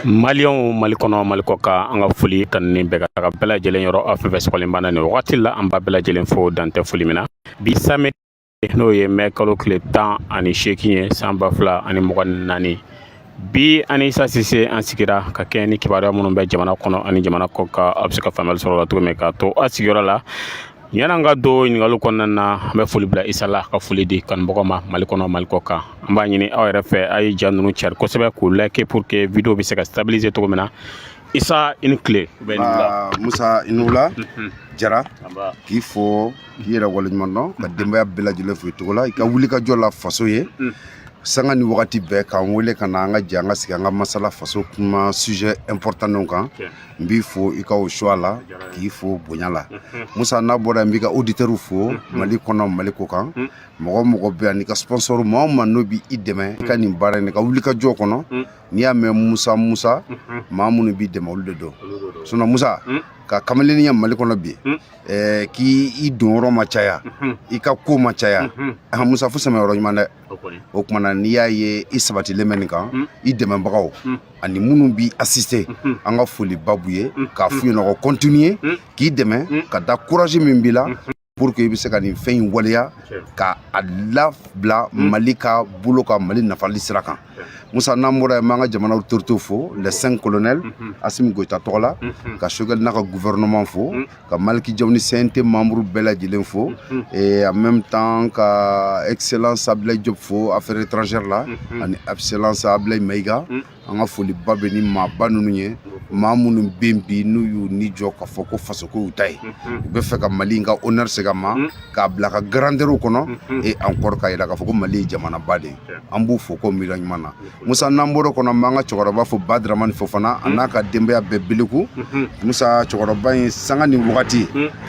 Maliyɛnw Mali kɔnɔ Mali kɔ kan an ka foli kanunen bɛ ka taga bɛɛ lajɛlen yɔrɔ aw fɛn fɛn sɔgɔlen b'an na nin wagati la an b'a bɛɛ lajɛlen fo dan tɛ foli min na bi samedi n'o ye mɛ kalo tile tan ani seegin ye san ba fila ani mugan ni naani bi an ni isa sise an sigira ka kɛɲɛ ni kibaruya minnu bɛ jamana kɔnɔ ani jamana kɔ kan a bɛ se ka faamuyali sɔrɔ o la cogo min k'a to a sigiyɔrɔ la Yan'an ka don ɲininkali kɔnɔna na an bɛ foli bila Isa la ka foli di kanubagaw ma Mali kɔnɔ Mali kɔ kan an b'a ɲini aw yɛrɛ fɛ a ye ja ninnu cari kosɛbɛ k'u liker pour que video bɛ se ka stabiliser cogo min na Isa i ni tile Musa i ni wula mhm. Jara k'i fo k'i yɛrɛ waleɲuman dɔn ka denbaya bɛɛ lajɛlen fo i tɔgɔ la i ka wulikajɔ la faso ye mm. sanga ni wagati bɛɛ k'an wele ka na an ka jɛ an ka sigi an ka masala faso kuma sujet important ninnu kan n b'i fo i ka o choix la k'i fo bonya la musa n'a bɔra n b'i ka auditeurs fo mali kɔnɔ mali kɔ kan mɔgɔ o mɔgɔ bɛ yan n'i ka sponsor maa o maa n'o bɛ i dɛmɛ i ka nin baara in ka wulikajɔ kɔnɔ n'i y'a mɛn musa musa maa minnu b'i dɛmɛ olu de don sinɔn musa ka kamalenninya mali kɔnɔ bi k'i i don yɔrɔ ma caya i ka ko ma caya musa fo sɛmɛ yɔrɔ ɲuman dɛ o tuma na n'i y'a ye i sabatilen bɛ nin kan hmm. i dɛmɛbagaw hmm. ani minnu b'i asiste hmm. an ka foliba b'u ye k'a f'u ye k'u ka continuer k'i dɛmɛ ka da courage min b'i la pour que i bɛ se ka nin fɛn in waleya k'a labila mali ka bolo kan mali nafali sira kan musa n'an bɔra yen an b'an ka jamana autorité fo les cinq colonel asimi goyita tɔgɔ la ka sogɛli n'a ka gouvernement fo ka maliki jaw ni cnt membre bɛɛ lajɛlen fo mhm. et en même temps ka excellence ablaye job fo affaire étrangère la mhm. ani excellence ablaye mayiga mhm. an ka foliba bɛ nin maaba ninnu ye maa minnu bɛ yen bi n'u y'u ni jɔ k'a fɔ ko fasoko y'u ta ye u bɛ fɛ ka mali in ka honneur segin a ma k'a bila ka grandeur kɔnɔ et encore k'a jira k'a fɔ ko mali ye jamanaba de ye an b'u fo ko miiriya ɲuman na Musa n'an bɔr'o kɔnɔ an b'an ka cɛkɔrɔba fo Badaramani Fofana a n'a ka denbaya bɛɛ Beleku Musa cɛkɔrɔba in sanga ni wagati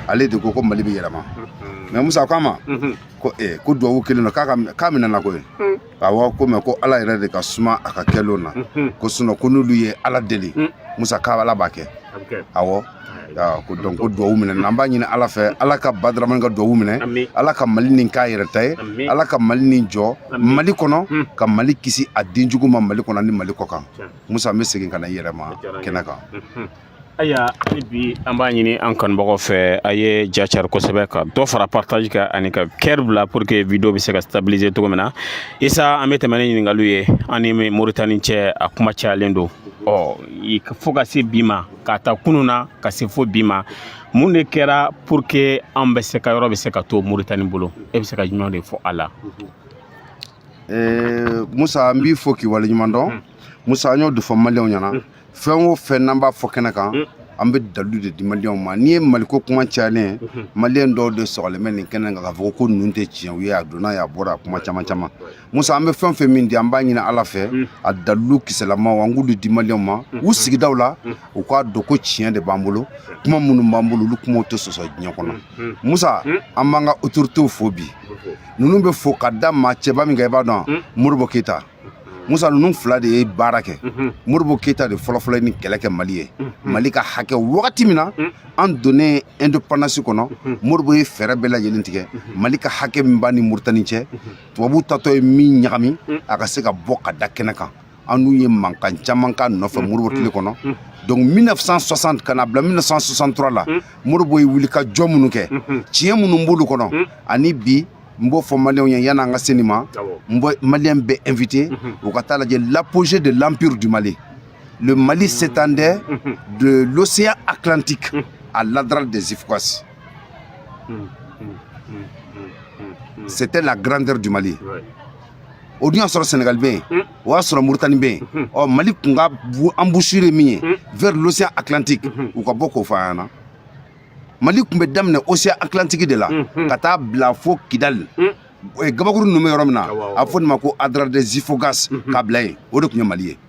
ale de ko ko Mali bɛ yɛlɛma mais Musa k'a ma ko ee ko duwawu kɛlen don k'a ka k'a minɛna koyi awɔ ko mais ko Ala yɛrɛ de ka suma a ka kɛlenw na ko sinon ko n'olu ye Ala deli Musa k'Ala b'a kɛ awɔ ko donc ko duwawu minɛna an b'a ɲini ala fɛ ala ka badaramani ka duwawu minɛ ala ka mali nin k'a yɛrɛ ta ye ala ka mali nin jɔ mali kɔnɔ hmm. ka mali kisi a den jugu ma mali kɔnɔ ni mali kɔ kan musa an bɛ segin ka na i yɛrɛ ma kɛnɛ kan hmm, hmm. ayiwa hali bi an b'a ɲini an kanubagaw fɛ a ye ja cari kosɛbɛ ka dɔ fara partage kan ani ka cœur bila pour que video bɛ se ka stabiliser cogo min na isa an bɛ tɛmɛ ni ɲininkaliw ye an ni moritani cɛ a kuma cayalen don ɔ fo ka se bi ma k'a ta kunun na ka se fo bi ma mun de kɛra pour que an bɛ se ka yɔrɔ bɛ se ka to moritani bolo e bɛ se ka jumɛn de fɔ a la eh, musa n b'i fo k'i waleɲuman dɔn hmm. musa an y'o de fɔ maliyɛnw ɲɛna hmm. fɛn o fɛn n'an b'a fɔ kɛnɛ kan hmm. an bɛ dalu de di maliyɛnw ma n'i ye maliko kuma cayalen maliyɛn dɔw de sɔgɔlen bɛ nin kɛnɛ kan k'a fɔ ko ninnu tɛ tiɲɛw ye a donna ye a bɔra a kuma caman caman musa an bɛ fɛn o fɛn min di an b'a ɲini ala fɛ mm. a dalilu kisɛlamaw an k'olu di maliyɛnw ma mm. u sigidaw la mm. u k'a dɔn ko tiɲɛ de b'an bolo kuma minnu b'an bolo olu kumaw tɛ sɔsɔ diɲɛ kɔnɔ musa an b'an ka otoritew fo bi ninnu bɛɛ fo ka da maa cɛba min kan i b'a dɔn modibo keyita musa ninnu fila de ye baara kɛ mhm. modibo keyita de fɔlɔfɔlɔ nin kɛlɛ kɛ mali ye mhm. mali ka hakɛ wagati min na mhm. an donnen indépendance kɔnɔ modibo ye fɛɛrɛ bɛɛ lajɛlen tigɛ mali ka hakɛ min b'a ni moritani cɛ tubabu tatɔ ye min ɲagami mm. a ka se ka bɔ ka da kɛnɛ kan an n'u ye mankan caman k'a nɔfɛ mm. modibo tile mm. kɔnɔ donc 1960 ka n'a bila 1963 la modibo ye wulikajɔ minnu kɛ mm-hmm. tiɲɛ minnu b'olu kɔnɔ ani bi n b'o fɔ maliyɛnw ye yan'an ka se nin ma n bɛ maliyɛn bɛɛ invité mm-hmm. u ka taa lajɛ l'apogée de l'empire du mali le mali s'étendait mm-hmm. de l'océan atlantique à l'adrar des ifoghas Hmm, hmm, hmm, C'était la grandeur du Mali. Ouais. o dun y'a sɔrɔ sɛnɛgali bɛ yen o y'a sɔrɔ moritani bɛ yen ɔ mali kun ka embouchure min ye vers l'océan atlantique u ka bɔ k'o fɔ an ɲɛna mali kun bɛ daminɛ océan atlantique de la ka taa bila fo kidali gabakuru ninnu bɛ yɔrɔ min na a bɛ fɔ nin ma ko adrar des ifoghas k'a bila yen o de tun ye mali ye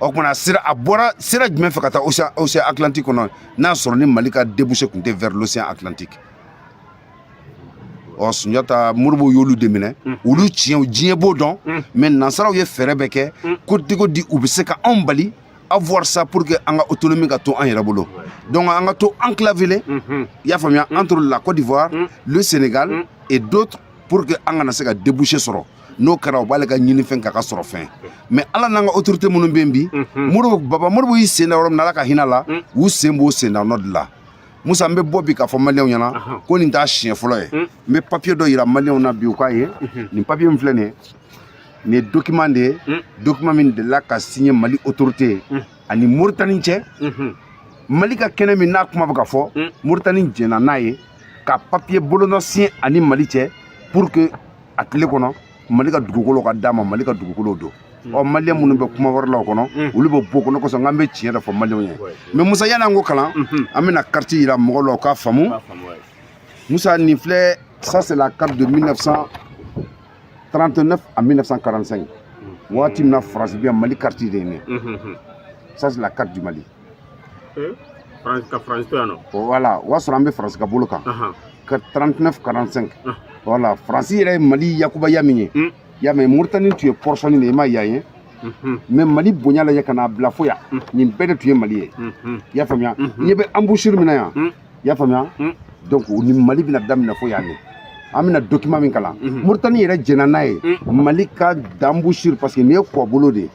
o tuma na sira a bɔra sira jumɛn fɛ ka taa océan atlantique kɔnɔ n'a sɔrɔ ni mali ka débouché tun tɛ vers l'océan atlantique ɔ sunjata modibo y'olu de minɛ olu tiɲɛw diɲɛ b'o dɔn mais nansaraw ye fɛɛrɛ bɛɛ kɛ ko cogo di u bɛ se ka anw bali avoir ça pour que an ka autonomie ka to an yɛrɛ bolo donc an ka to enclavélen i y'a faamuya entre la côte d'ivoire le sénégal et d'autres pour que an kana se ka débouché sɔrɔ n'o kɛra o b'ale ka ɲinifɛn k'a ka sɔrɔfɛn mais ala n'an ka autorité minnu bɛ yen bi baba modibo y'i sen da yɔrɔ min na ala ka hinɛ a la u sen b'o sen da nɔ de la musa n bɛ bɔ bi k'a fɔ maliyɛnw ɲɛna ko nin t'a siɲɛ fɔlɔ ye n bɛ papiye dɔ yira maliyɛnw na bi u k'a ye nin papiye min filɛ nin ye nin ye dokiman de ye dokiman min delila ka signé mali autorité ani moritani cɛ mali ka kɛnɛ min n'a kuma bɛ ka fɔ moritani jɛnna n'a ye ka papiye bolonɔ signé ani mali cɛ pour que a tile kɔnɔ mali ka dugukolo ka d'a ma mali ka dugukolo don mm. ɔ maliyɛn minnu bɛ kuma wɛrɛ la o kɔnɔ mm. olu bɛ bɔ o kɔnɔ kosɔn k'an bɛ tiɲɛ de fɔ maliyɛnw ye mais musa yan'an k'o kalan mm-hmm. an bɛna kariti yira mɔgɔw la u k'a faamu musa nin filɛ ça c'est la carte de 1939 à 1945 mm. waati min na faransi bɛ yen mali kariti de ye nin mm-hmm. ça c'est la carte du mali ka faransi to yan nɔ voilà o y'a sɔrɔ an bɛ faransi ka bolo kan ka 39 45 voilà faransi yɛrɛ ye mali ya kunbaya min ye hmm. y'a mɛ moritani tun ye portionnin de ye i ma yan ye hmm. mais mali bonya lajɛ ka n'a bila fo yan hmm. nin bɛɛ de tun ye mali ye i y'a faamuya ɲɛ bɛ embouchure min na yan i y'a faamuya donc ni mali bɛna daminɛ fo yan de an bɛna document min kalan moritani yɛrɛ jɛnna n'a ye mali ka d'embouchure parce que nin ye kɔbolo de ye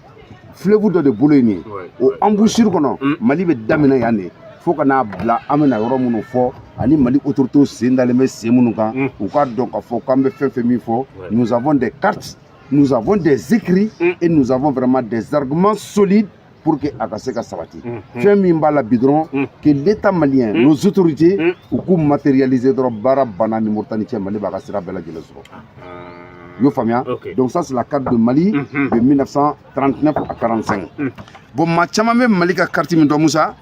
fleuve dɔ de bolo ye nin ye o embouchure kɔnɔ mm. mali bɛ daminɛ yan de fo ka n'a bila an bɛna yɔrɔ minnu fɔ ani mali autorités sen dalen bɛ sen minnu kan mm. u k'a dɔn k'a fɔ k'an bɛ fɛn fɛn min fɔ nous avons des cartes nous avons des écrits mm. et nous avons vraiment des arguments solides pour que a ka se ka sabati mm-hmm. fɛn min b'a la bi dɔrɔn mm. que l'état malien mm. nos autorités u k'u matérialiser dɔrɔn baara banna ni moritani cɛ mali b'a ka sira bɛɛ lajɛlen sɔrɔ ah, ah. i y'o faamuya donc ça c'est la carte de Mali mhm. de 1939 à 45 mhm. bon maa caman bɛ Mali ka carte min dɔn Musa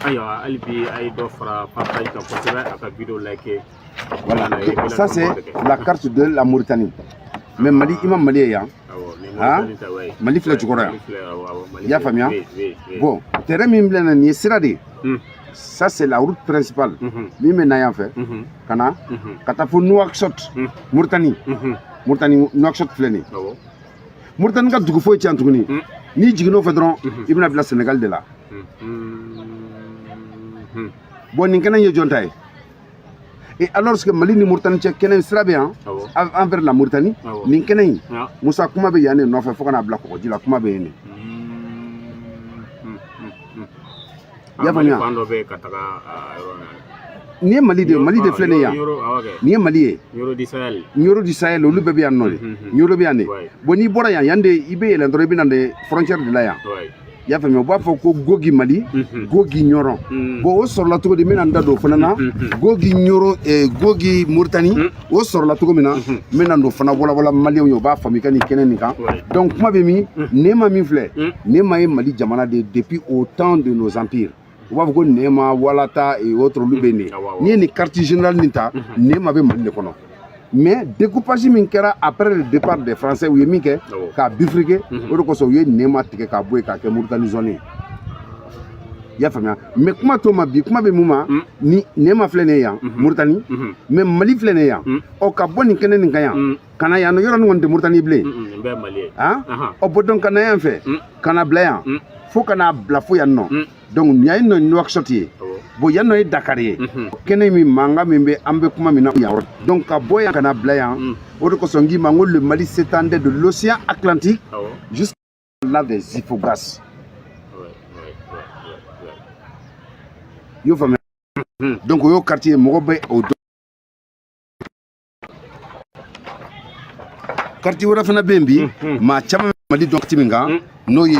ayiwa hali bi a ye dɔ fara partage kan kosɛbɛ a ka video like voilà ça c'est la carte de la Mauritanie mais Mali i ma Mali ye yan ah? mali filɛ jukɔrɔ yan i y'a faamuya bon trait min filɛ na nin ye sira de ye hmm. ça c'est la route principale mhm. min bɛ na yan fɛ mhm. ka na mhm. ka taa fo nouakchott muritani muritani nouakchott filɛ nin ye muritani ka dugu foyi tɛ yan tuguni hmm. n'i jiginn'o fɛ dɔrɔn i bɛna bila senegali de la bon nin kɛnɛ ye jɔn ta ye Et alors que Mali ni Mauritanie cɛ kɛnɛ sira bɛ yan envers la Mauritanie nin kɛnɛ in Musa kuma bɛ yan de nɔfɛ fo ka n'a bila kɔgɔji la kuma bɛ yen de. I y'a faamuya. Fan dɔ bɛ yen ka taga yɔrɔ min nin ye mali de ye mali de filɛ nin ye yan nin ye mali ye Nioro du Sahel olu bɛɛ bɛ yan nɔ de Nioro bɛ yan de bon n'i bɔra yan yan de i bɛ yɛlɛn dɔrɔn i bɛ na de frontière de la yan i y'a faamuya u b'a fɔ ko gogi mali gogi ɲɔrɔn bon o sɔrɔla cogo di n bɛna n da don o fana na gogi ɲɔrɔn gogi moritani o sɔrɔla cogo min na n bɛna n'o fana walawala maliyɛnw ye u b'a faamu i ka nin kɛnɛ nin kan donc kuma bɛ min nema min filɛ nema ye mali jamana de ye depuis au temps de nos empires u b'a fɔ ko nɛma walata et autres olu bɛ nin n'i ye nin carte générale nin ta nɛma bɛ mali de kɔnɔ mais découpage min kɛra après le départ des français u ye min kɛ k'a bifurquer o de kosɔn u ye nɛma tigɛ k'a bɔ yen k'a kɛ moritani zone ye i y'a faamuya mais kuma t'o ma bi kuma bɛ mun ma ni nɛma filɛ nin ye yan moritani mais mali filɛ nin ye yan ɔ ka bɔ nin kɛnɛ nin kan yan ka na yan yɔrɔ nin kɔni tɛ moritani bilen ɔ bɔn donc ka na yan fɛ ka na bila yan fo ka n'a bila fo yan nɔ donc nin yan nɔ nuwakisɔti ye bon yan nɔ ye dakari ye kɛnɛ min mankan min bɛ an bɛ kuma min na yan donc ka bɔ yan ka na bila yan o de kosɔn n k'i ma n ko le mali s'étendait de l'océan atlantique jusqu'à l'adrar des ifoghas i y'o faamuya donc o y'o kariti ye mɔgɔ bɛ o dɔn kariti wɛrɛ fana bɛ yen bi maa caman bɛ mali dɔn kariti min kan n'o ye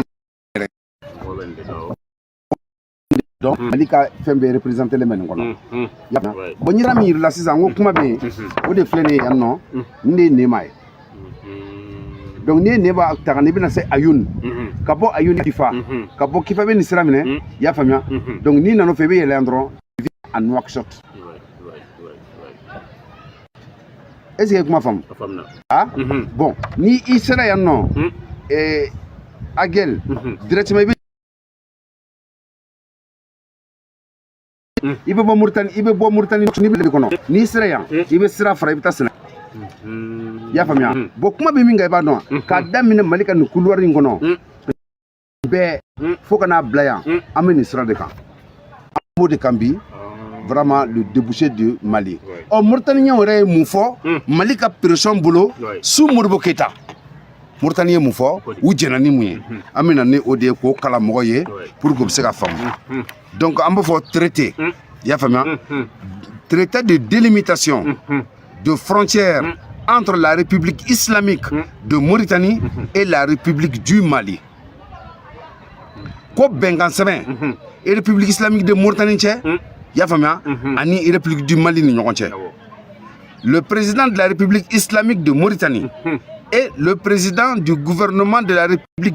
donc mali ka fɛn bɛɛ représentélen bɛ nin kɔnɔ bon nin yɔrɔ min yirila sisan ko kuma bɛ yen o de filɛ nin ye yan nɔ nin de ye nema ye donc n'i ye nema ta ka na i bɛna se ayun ka bɔ ayun kifa ka bɔ kifa bɛ nin sira minɛ i y'a faamuya donc n'i nana o fɛ i bɛ yɛlɛ yan dɔrɔn i bɛ à Nouakchott. est ce que i ye kuma faamu ah mhm. bon ni i sera yan nɔ mhm. eh, agel mhm. directement i bɛ i bɛ bɔ muritani i bɛ bɔ muritani nin bɛɛ kɔnɔ n'i sera yan i bɛ sira fara i bɛ taa senegali i y'a faamuya bɔn kuma bɛ min kan i b'a dɔn wa k'a daminɛ mali ka nin kuluwari in kɔnɔ bɛɛ hmm. fo ka n'a bila yan hmm. an bɛ nin sira de kan an b'o de kan bi ah. vraiment le débouché de mali ɔ moritaniyɛnw yɛrɛ ye mun fɔ hmm. mali ka pression bolo sous modibo keyita moritani ye mun fɔ u jɛna ni mun ye an bɛ na ni o de ye k'o kalan mɔgɔ ye pour que u bɛ se k'a faamu donc an b'a fɔ traité i y'a faamuya traité de délimitation de frontière mm. entre la République islamique mm. de Mauritanie mm-hmm. et la République du Mali. Ko bɛnkan sɛbɛn mm-hmm. eh République islamique de Mauritanie cɛ mm. i y'a faamuya mm-hmm. ani République du Mali ni ɲɔgɔn cɛ le président de la République islamique de Mauritanie et le président du gouvernement de la République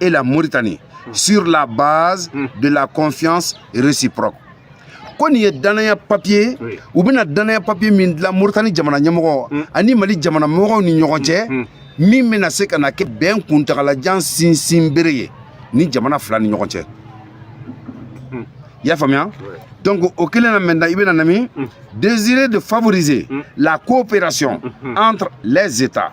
et la Mauritanie sur la base hmm. de la confiance réciproque. ko nin ye danaya papiye u bɛna danaya papiye min dilan moritani jamana ɲɛmɔgɔ hmm. ani mali jamana mɔgɔw ni ɲɔgɔn cɛ hmm. min bɛna se ka na kɛ bɛn kuntagalajan sinsin bere ye nin jamana fila ni ɲɔgɔn cɛ i y'a faamuya donc o kɛlen na maintenant i bɛna na min désireux de favoriser la coopération entre les états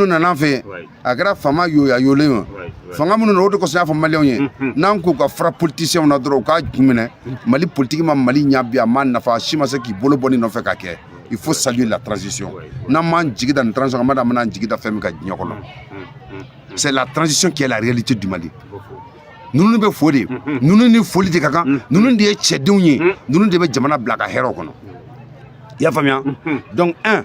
minnu nana an fɛ yen a kɛra fanga yɔgɔyɔgɔlen o fanga minnu na o de kosɔn n y'a fɔ maliyɛnw ye n'an k'u ka fara politisiyɛnw na dɔrɔn u k'a ju minɛ mali politiki ma mali ɲa bi a ma nafa a si ma se k'i bolo bɔ nin nɔfɛ ka kɛ il faut saluer la transition n'an m'an jigi da nin transition kan ma da an bɛn'an jigi da fɛn min kan diɲɛ kɔnɔ c'est la transition qui est la réalité du mali ninnu bɛ fo de ninnu ni foli de ka kan ninnu de ye cɛdenw ye ninnu de bɛ jamana bila ka hɛrɛw kɔnɔ i y'a faamuya donc un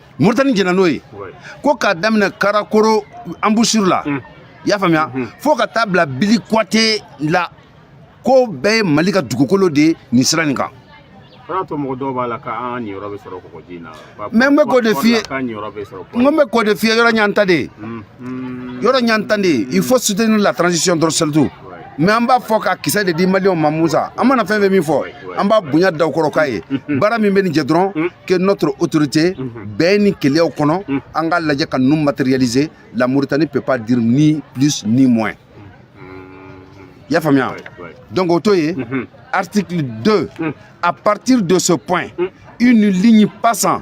Mauritanie jɛna n'o ye ko k'a daminɛ Karakoro embouchure la i y'a faamuya fo ka taa bila Bili Kuwate la k'o bɛɛ ye Mali ka dugukolo de ye nin sira nin kan o y'a to mɔgɔ dɔw b'a la k'an niyɔrɔ bɛ sɔrɔ kɔgɔji in na mais n bɛ k'o de f'i ye k'an niyɔrɔ bɛ sɔrɔ n ko n bɛ k'o de f'i ye yɔrɔ ɲanta de ye yɔrɔ ɲanta de ye il faut soutenir la transition dɔrɔn surtout mɛ an b'a fɔ ka kisɛ de di maliyɛnw ma musa an mana fɛn fɛn min fɔ an b'a bonya da u kɔrɔ k'a ye baara min bɛ nin jɛ dɔrɔn mm. que notre autorité mm-hmm. bɛɛ ni keleyaw kɔnɔ mm. an k'a lajɛ ka ninnu matérialiser la mauritanie peut pas dire ni plus ni moins mm-hmm. y'a faamuya donc o to ye mm-hmm. article 2 mm. à partir de ce point une ligne passant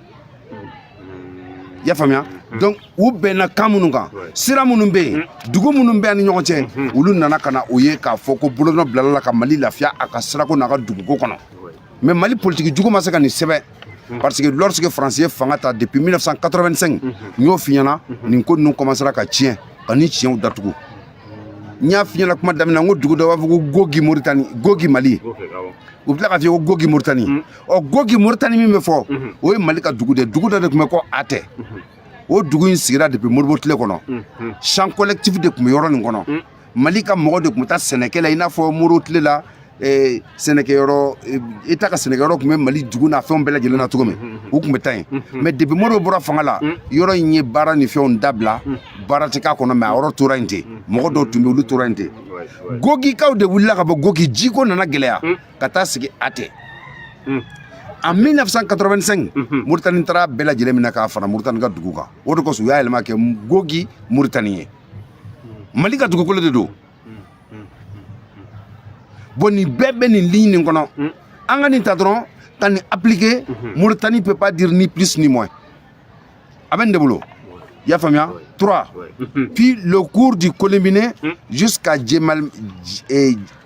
i y'a faamuya donc u bɛnna kan minnu kan sira minnu bɛ yen dugu minnu b'an ni ɲɔgɔn cɛ olu nana ka na o ye k'a fɔ ko bolonɔ bilala la ka mali lafiya a ka sirako n'a ka duguko kɔnɔ mais mali politiki jugu ma se ka nin sɛbɛn parce que lorsque faransi ye fanga ta depuis 1985 n y'o f'i ɲɛ na nin ko ninnu commencera ka tiɲɛ ka nin tiɲɛw datugu n y'a f'i ɲɛ na kuma daminɛ n ko dugu dɔ b'a fɔ ko gogi moritani gogi mali u tila k'a fɔ ko gogi moritani o gogi moritani min bɛ fɔ o ye mali ka dugu de dugu dɔ de tun bɛ ko a tɛ o dugu in sigira depi moribo tile kɔnɔ champ collectif de tun bɛ yɔrɔ nin kɔnɔ mali ka mɔgɔ de tun bɛ taa sɛnɛkɛ la i n'a fɔ moribo tile la eh, sɛnɛkɛyɔrɔ eh, eta ka sɛnɛkɛyɔrɔ tun bɛ mali dugu n'a fɛnw bɛɛ lajɛlen na cogo min u tun bɛ taa yen mɛ depi moribo bɔra fanga la yɔrɔ in ye baara ni fɛnw dabila baara tɛ k'a kɔnɔ mɛ a yɔrɔ tora yen ten mɔgɔ dɔw tun bɛ olu tora yen ten gogikaw de wulila ka bɔ gogi jiko nana gɛlɛya ka taa sigi a tɛ hmm. en 1985 mhm. muritani taara a bɛɛ lajɛlen minɛ k'a fara muritani ka dugu kan o de kosɔn u y'a yɛlɛma k'a kɛ gogi muritani ye mali ka dugukolo de don bon nin bɛɛ bɛ nin ligne nin kɔnɔ mm. an ka nin ta dɔrɔn ka nin appliquer mhm. muritani peut pas dire ni plus ni moins a bɛ nin de bolo i y'a faamuya 3 mhm. puis le cours du kolombiné mm. jusqu'à jemal eh,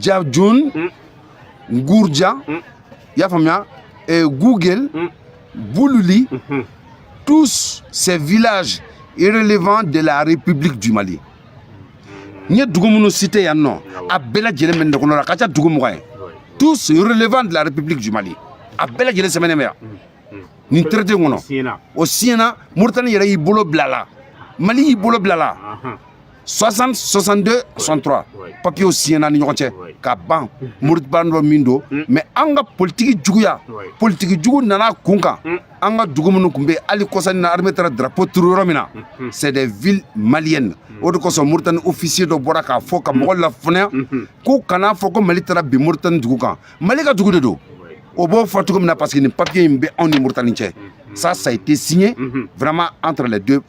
jajun mm. gurja mm. y'a faamuya eh, gouguel mm. bululi mm -hmm. tous ces villages relevant de la république du mali n ye dugu minnu citer yan nɔ a bɛɛ lajɛlen bɛ nin de kɔnɔ la ka ca dugu mugan ye tous relevant de la république du mali a bɛɛ lajɛlen sɛbɛnnen bɛ yan nin traité kɔnɔ o siɲɛna moritani yɛrɛ y'i bolo bila la mali y'i bolo bila la 60 62 63 papiyew siɲɛna ni ɲɔgɔn cɛ ka ban moriba dɔ min don mm. mɛ an ka politiki juguya politiki jugu nana an kun kan mm. an ka dugu minnu tun bɛ yen hali kɔsa nin na armée taara drapeau turu yɔrɔ min na mm-hmm. c'est des villes maliennes mm. o de kosɔn moritani officier dɔ bɔra k'a fɔ ka mɔgɔ lafaamuya mm-hmm. k'u kana fɔ ko mali taara bin moritani dugu kan mali ka dugu de don o b'o fɔ cogo min na parce que nin papiye in bɛ anw ni moritani cɛ mm-hmm. ça ça a été signé vraiment entre les deux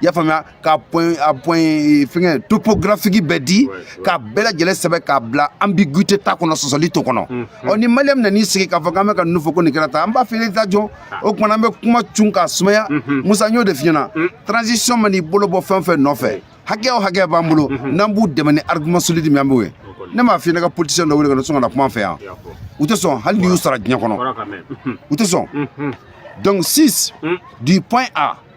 i y'a faamuya ka point à point eh, fɛngɛ topographique bɛɛ di ka bɛɛ lajɛlen sɛbɛn k'a bila ambiguité t'a kɔnɔ sɔsɔli t'o kɔnɔ mm, mm. ɔ ni maliyɛn bɛna n'i sigi k'a fɔ k'an bɛ ka ninnu fɔ ko nin kɛra tan an b'a fɛ i ta jɔ ah. o kuma an bɛ kuma cun k'a sumaya mm-hmm. musa n y'o de f'i ɲɛna mm. transition man'i bolo bɔ fɛn o fɛn nɔfɛ hakɛ o hakɛ b'an bolo mm-hmm. n'an b'u dɛmɛ ni argument solide min an b'o ye ne m'a f'i ɲɛ ka politicien dɔ wele ka na sɔn ka na kuma an fɛ yan u tɛ sɔn hali n'i y'u sara diɲɛ kɔnɔ u tɛ sɔn donc 6 du point A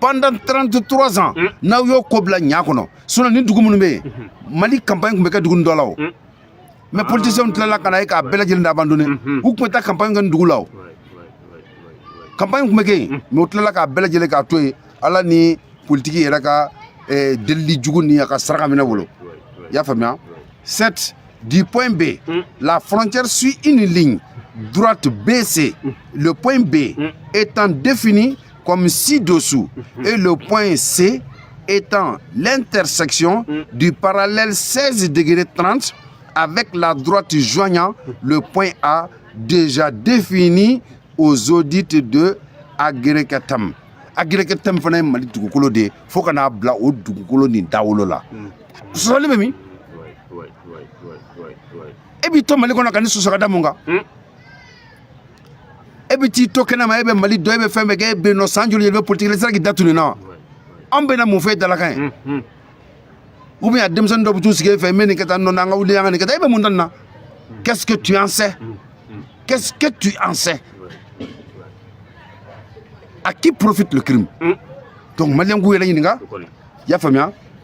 pendant 33 ans mm. n'aw y'o ko bila diɲɛ kɔnɔ sinon nin dugu minnu bɛ yen mm-hmm. mali kanpaɲi tun bɛ kɛ dugu dɔ la o mm. mɛ ah. politisiyɛnw tilala ka na ye k'a bɛɛ lajɛlen abandonner mm-hmm. u tun bɛ taa kanpaɲi kɛ nin dugu la o kanpaɲi tun bɛ kɛ yen mm. mɛ u tilala k'a bɛɛ lajɛlen k'a to yen ala ni politiki yɛrɛ ka eh, delili jugu ni a ka saraka minɛ bolo i y'a faamuya 7 du point B la frontière suit une ligne droite BC le point B étant défini comme ci-dessous. Et le point C étant l'intersection mm. du parallèle 16 degrés 30 avec la droite joignant le point A déjà défini aux audits de Agueraktem. Agueraktem fana ye Mali dugukolo de ye fo ka n'a bila o dugukolo nin dawolo la. Mm. Sɔsɔli bɛ min? E b'i to Mali kɔnɔ ka nin sɔsɔ ka da mun kan? Mm. e bɛ t'i to kɛnɛ ma e bɛ mali dɔn e bɛ fɛn bɛɛ kɛ e bɛ yen nɔ san joli joli e bɛ politiki la i sera k'i da don nin na wa an bɛna mun fɔ e dalakan ye ou bien a denmisɛnnin dɔw bɛ t'u sigi e fɛ n bɛ nin kɛ tan nɔ an ka wuli an ka nin kɛ tan e bɛ mun dɔn nin na qu'est-ce que tu en sais qu'est-ce que tu en sais à qui profite le crime donc maliyɛnw k'u yɛrɛ ɲininka i y'a faamuya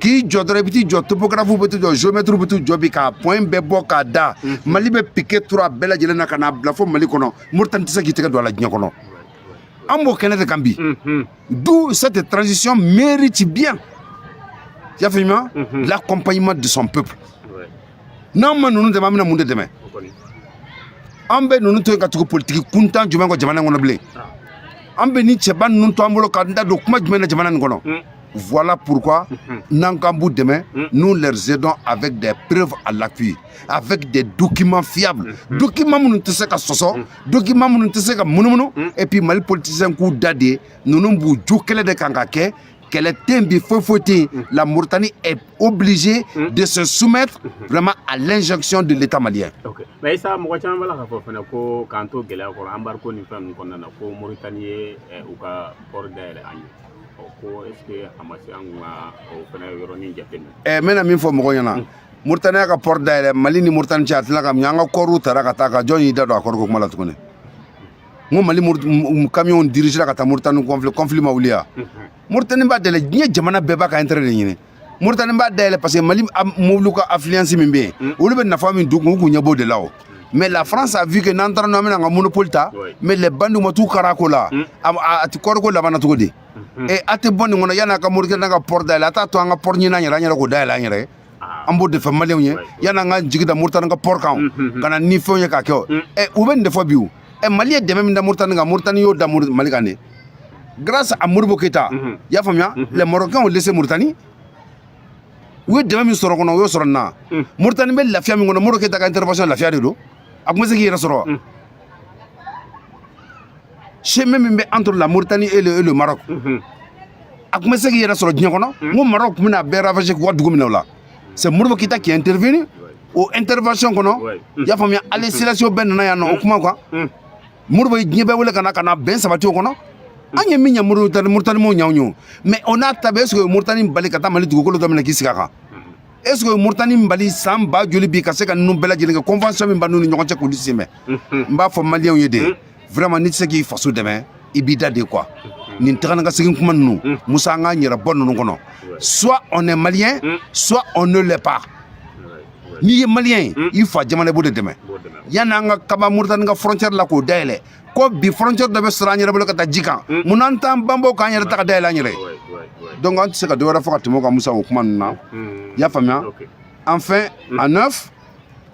k'i jɔ dɔrɔn i bɛ t'i jɔ topogarafuw bɛ t'u jɔ geomɛtiriw bɛ t'u jɔ bi ka point bɛɛ bɔ k'a da mali bɛ pike turu a bɛɛ lajɛlen na ka n'a bila fo mali kɔnɔ moritani tɛ se k'i tɛgɛ don a la diɲɛ kɔnɔ an b'o kɛnɛ de kan bi d'où cette transition mérite bien y'a faamuya l'accompagnement de son peuple n'an ma ninnu dɛmɛ an bɛna mun de dɛmɛ an bɛ ninnu to yen ka tugu politiki kuntan jumɛn kɔ jamana in kɔnɔ bilen an bɛ nin cɛba ninnu to an bolo k'an da don kuma jumɛn na jamana nin kɔnɔ hmm. Voilà pourquoi mhm. n'an k'an b'u dɛmɛ, mhm. nous les aidons avec des preuves à l'appui, avec des documents fiables. Mhm. Documents minnu tɛ se ka sɔsɔ, documents minnu tɛ se ka munumunu, et puis Mali politiciens k'u da dɛ, ninnu b'u jɔ kelen de kan k'a kɛ, kɛlɛ tɛ yen bi foyi foyi tɛ yen mm. la Mauritanie est obligée mm. de se soumettre mm-hmm. vraiment à l'injonction de l'État malien. Okay. Mais Issa mɔgɔ caman b'a la k'a fɔ fana ko k'an to gɛlɛya kɔrɔ embargo ni fɛn ninnu kɔnɔna na ko Mauritanie ye eh, u ka port dayɛlɛ an ye. ko est-ce que a ma se an ka o fana yɔrɔnin jateminɛ. Ɛ eh, n bɛna min fɔ mɔgɔw ɲɛna. Mm. Mauritanie y'a ka port dayɛlɛ Mali ni Mauritanie cɛ a tilala ka mɛɛn an ka kɔɔriw taara ka taa ka jɔn y'i da don a kɔɔriko kuma la tuguni. n ko mali kamiyɔnw dirigera ka taa moritani conflit ma wuliya moritani b'a dayɛlɛ diɲɛ jamana bɛɛ b'a ka intérêt de ɲini moritani b'a dayɛlɛ parce que mali mobiliw ka affluence min bɛ yen olu bɛ nafa min don u kun ɲɛ b'o de la o mais la france a vu que n'an taara n'an bɛna an ka monopole ta mais les bandiw ma t'u kara ko la a ti kɔɔriko labanna cogo di e a tɛ bɔ nin kɔnɔ yan'a ka moritani ka port dayɛlɛ a t'a to an ka port ɲini an yɛrɛ an yɛrɛ k'o dayɛlɛ an yɛrɛ ye ah. an b'o de fɔ maliyɛnw ye yan'an ka jigi da moritani ka port kan mm, mm, mm. ka na ni fɛnw ye k'a kɛ o ɛ u bɛ nin de fɔ bi o ɛ mali ye dɛmɛ min da moritani kan moritani y'o da mali kan de grâce à Modibo Keita i y'a faamuya les marocains ont laissé moritani u ye dɛmɛ min sɔrɔ kɔnɔ u y'o sɔrɔ nin na moritani bɛ lafiya min kɔnɔ Modibo Keita ka intervention lafiya de don a tun bɛ se k'i yɛrɛ sɔrɔ wa chemin min bɛ entre la Mauritanie et le, et le Maroc mhm. a tun bɛ se k'i yɛrɛ sɔrɔ diɲɛ kɔnɔ n ko Maroc tun bɛna bɛɛ ravager k'u ka dugu minɛ o la c'est Modibo Keita qui a intervenu o intervention kɔnɔ i y'a faamuya Haïlé Sélassiéw bɛɛ nana yan nɔ o kuma kan Modibo ye diɲɛ bɛɛ wele ka na ka na bɛn sabati o kɔnɔ an ye min ɲɛ Mauritanie Mauritanimaw ɲanw ye o mais o n'a ta bɛɛ est-ce que o ye Mauritanie bali ka taa Mali dugukolo dɔ minɛ k'i sigi a kan est ce que Mauritanie bali san ba joli bi ka se ka ninnu bɛɛ lajɛlen kɛ convention min b'an n'u ni ɲɔgɔn cɛ k'olu sen bɛ n b'a fɔ maliyɛnw ye de vraiment n'i tɛ se k'i faso dɛmɛ i b'i da de quoi nin taga ni ka segin kuma ninnu mm. musa an k'an yɛrɛ bɔ ninnu kɔnɔ soit on est malien mm. soit on ne l'est pas n'i ye maliyɛn ye mm. i fa jamana i b'o de dɛmɛ yanni an ka kaba moritani ka frontière la k'o dayɛlɛ ko bi frontière dɔ bɛ sɔrɔ an yɛrɛ bolo ka taa ji kan mun na an t'an banban k'an yɛrɛ ta ka dayɛlɛ an yɛrɛ ye donc an tɛ se ka dɔ wɛrɛ fɔ ka tɛmɛ o kan musa o kuma ninnu na i y'a faamuya enfin à neuf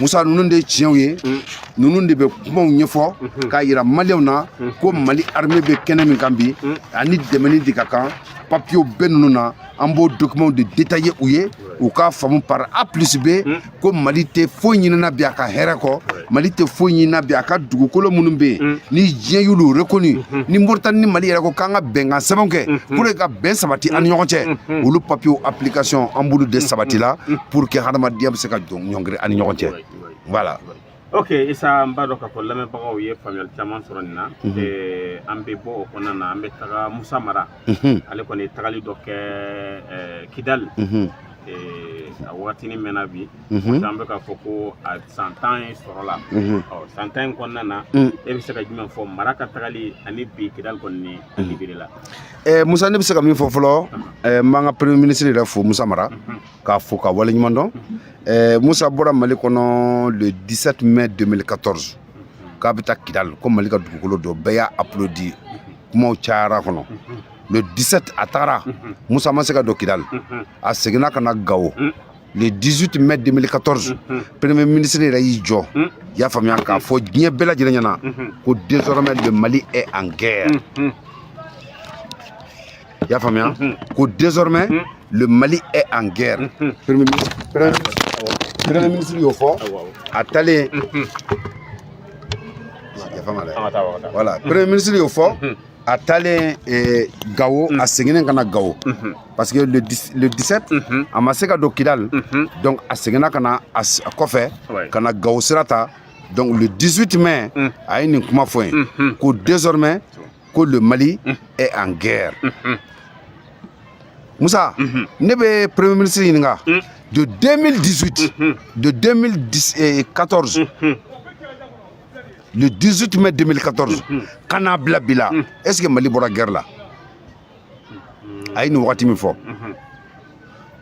musa ninnu de ye tiɲɛw ye ninnu de bɛ kumaw ɲɛfɔ k'a yira maliyɛnw na ko mali armée bɛ kɛnɛ min kan bi a ni dɛmɛni de ka kan papiyew bɛ ninnu na an b'o dokimanw de detaye u ye u k'a faamu par a plus b ko mali tɛ foyi ɲinina bi a ka hɛrɛ kɔ mali tɛ foyi ɲinina bi a ka dugukolo minnu bɛ yen mm. ni diɲɛ y'olu reconnu mm-hmm. ni moritani ni mali yɛrɛ ko k'an ka bɛnkan sɛbɛn kɛ mm-hmm. pour ka bɛn sabati an ni ɲɔgɔn cɛ mm-hmm. olu papiyew application an b'olu de sabati la pour que hadamadenya bɛ se ka ɲɔngiri an ni ɲɔgɔn cɛ voilà ok isa n b'a dɔn k'a fɔ lamɛnbagaw ye faamuyali caman sɔrɔ nin na eh, an bɛ bɔ o kɔnɔna na an bɛ taga musa mara ale kɔni ye tagali dɔ kɛ kidali a waatini mɛnna bi an bɛ k'a fɔ ko a san tan ye sɔrɔ la san tan in kɔnɔna na e bɛ se ka jumɛn fɔ mara ka tagali ani bi kidali kɔni ni libéré la musa ne bɛ se ka min fɔ fɔlɔ n b'an ka premier ministre yɛrɛ fo musa mara k'a fo ka waleɲuman dɔn musa bɔra mali kɔnɔ le 17 mai 2014 k'a bɛ taa kidali ko mali ka dugukolo dɔ bɛɛ y'a applaudi kumaw cayara kɔnɔ le 17 a tagara musa ma se ka don kidali a seginna ka na gawo le 18 mai 2014 premier ministre yɛrɛ y'i jɔ y'a faamuya k'a fɔ diɲɛ bɛɛ lajɛlen ɲɛna ko désormais le mali est en guerre y'a faamuya ko désormais le mali est en guerre premier ministre y'o fɔ a taalen voilà premier ministre y'o fɔ a taalen eh, gawo a seginnen ka na gawo parce que le 17 a ma se ka don kidali donc a seginna ka na a kɔfɛ ka na gawo sira ta donc le 18 mai a ye nin kuma fɔ yen ko désormais ko le mali est en guerre musa ne bɛ premier ministre ɲininka de 2018 de 2014 le 18 mai 2014 ka n'a bila bi la est ce que mali bɔra guerre la a ye nin wagati min fɔ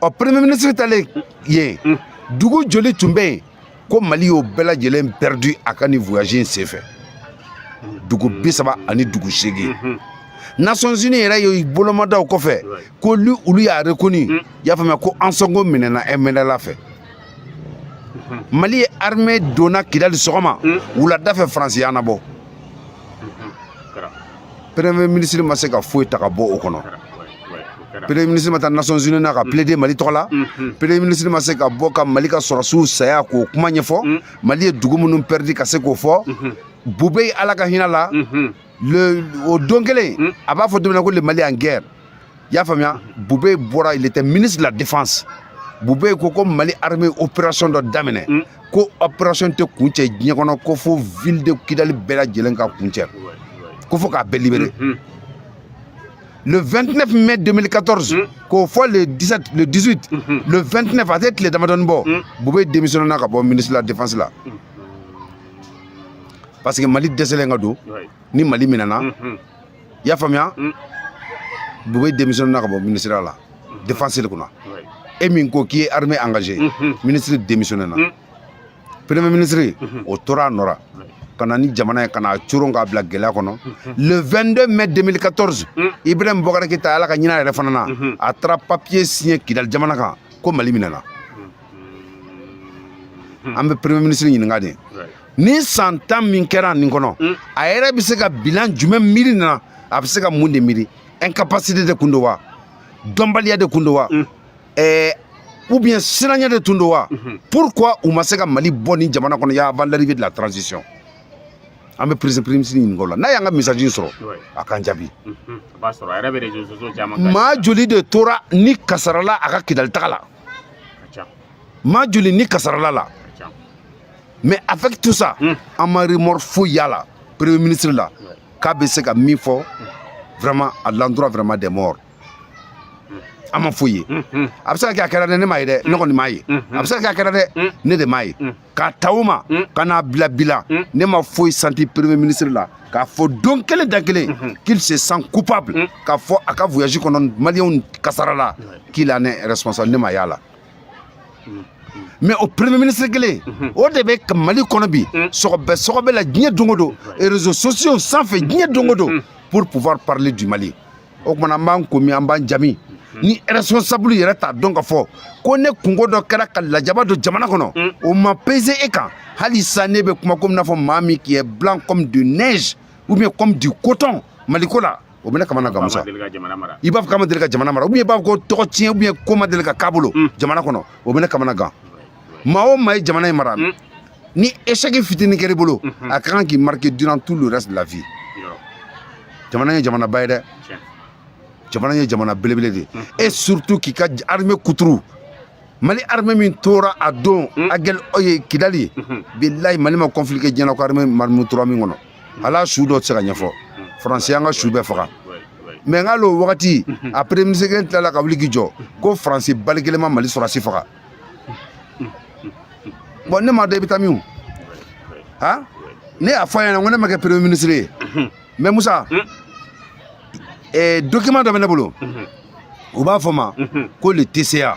ɔ premier ministre taalen yen mm. dugu joli tun bɛ yen ko mali y'o bɛɛ lajɛlen perdu a ka nin voyage in senfɛ dugu bi saba ani dugu seegin mm-hmm. nations unies yɛrɛ ye bolomadaw kɔfɛ ko olu y'a reconnu mm. y'a faamuya ko ansongo minɛna mnla fɛ mm-hmm. mali ye armée donna kidali sɔgɔma mm. wulada fɛ faransi y'an nabɔ premier ministre ma se ka foyi ta ka bɔ o kɔnɔ premier ministre ma taa nations unies na ka plaider mali tɔgɔ la premier ministre ma se ka bɔ ka mali ka sɔrɔdasiw saya k'o kuma ɲɛfɔ mali ye dugu minnu perdu ka se k'o fɔ bubɛyi ala ka hinɛ a la le o don kelen a b'a fɔ don min na ko le mali en guerre i y'a faamuya bubɛyi bɔra il était ministre de la défense bubɛyi ko ko mali armée opération dɔ daminɛ mm. ko opération tɛ kuncɛ diɲɛ kɔnɔ ko fo ville de kidali bɛɛ lajɛlen ka kuncɛ ko fo k'a bɛɛ libéré mm, mm. le 29 mai 2014 k'o fɔ le 17 le 18 mm-hmm. le 29 a tɛ tile damadɔni bɔ bubɛyi démissionné na ka bɔ ministre de la défense la parce que mali dɛsɛlen ka don ni mali minɛna i y'a faamuya boubèye démissionné na ka bɔ ministère de la défense de kunna e min ko k'i ye armée engagé ministre démissionné na premier ministre o tora a nɔ la ka na ni jamana ye ka n'a coron k'a bila gɛlɛya kɔnɔ le 22 mai 2014 ibrahim boubacar keïta ala ka hinɛ a yɛrɛ fana na a taara papier signé kidali jamana kan ko mali minɛna an bɛ premier ministre ɲininka de ni san tan min kɛra nin kɔnɔ mm. a yɛrɛ bɛ se ka bilan jumɛn miiri na a bɛ se ka mun de miiri incapacité de kun don wa dɔnbaliya de kun don wa mm. eh, ou bien siranya de tun don wa mm-hmm. pourquoi u ma se ka mali bɔ ni jamana kɔnɔ ya avant l'arrivée de la transition an bɛ prési premier ministre ɲininka o la n'a y'an ka message in sɔrɔ a k'an jaabi mm-hmm. maa joli de tora ni kasara la a ka kidali taga la maa joli ni kasarala la mais avec tout ça hmm. an ma remords foyi y'a la premier ministre la k'a bɛ se ka min fɔ vraiment à l'endroit vraiment des morts hmm. an ma foyi ye hmm, a bɛ se ka kɛ a kɛra dɛ ne m'a ye dɛ ne kɔni m'a ye a bɛ se ka kɛ a kɛra dɛ ne de m'a ye k'a ta o ma ka n'a bila bi la ne ma foyi santi premier ministre la k'a fɔ don kelen da kelen qu'il se sent coupable k'a fɔ a ka voyage kɔnɔ maliyɛnw kasarala qu'il en est responsable ne m'a y'a la mais o premier ministre kelen o de bɛ mali kɔnɔ bi sɔgɔbɛ sɔgɔbɛ la diɲɛ don o don réseaux sociaux sanfɛ diɲɛ don o don pour pouvoir parler du mali o kuma na an b'an ko min an b'an ja min ni responsable yɛrɛ t'a dɔn k'a fɔ ko ne kunko dɔ kɛra ka lajaba don jamana kɔnɔ mm. o ma pese e kan hali sa ne bɛ kuma komi n'a fɔ maa min qui est blanc comme de neige ou bien comme du coton maliko la o bɛ ne kamana gan musa i b'a fɔ k'a ma deli ka jamana mara ou bien i b'a fɔ ko tɔgɔ tiɲɛ ou bien ko ma deli ka k'a bolo mm. jamana kɔnɔ o bɛ ne kamana gan maa o maa ye jamana in mara mm. ni échec fitinin kɛr'i bolo mm-hmm. a ka kan k'i marquer durant tout le reste de la vie jamana ye jamanaba ye dɛ jamana ye jamana belebele de ye mm. et surtout k'i ka armée kuturu mali armée min tora a don agɛl kidali bilahi mali ma conflit kɛ diɲɛ na ko armée maa min tora min kɔnɔ hal'a su dɔ tɛ se ka ɲɛfɔ faransi y'an ka su bɛɛ faga mais nk'ale o wagati a premier ministre kelen tilala ka wuli k'i jɔ ko faransi balle kelen ma mali sɔrɔdasi faga bon ne m'a dɔn i bɛ taa min ha ne y'a fɔ a ɲɛ na ko ne ma kɛ premier ministre ye mais musa document dɔ bɛ ne bolo u b'a fɔ o ma ko le tca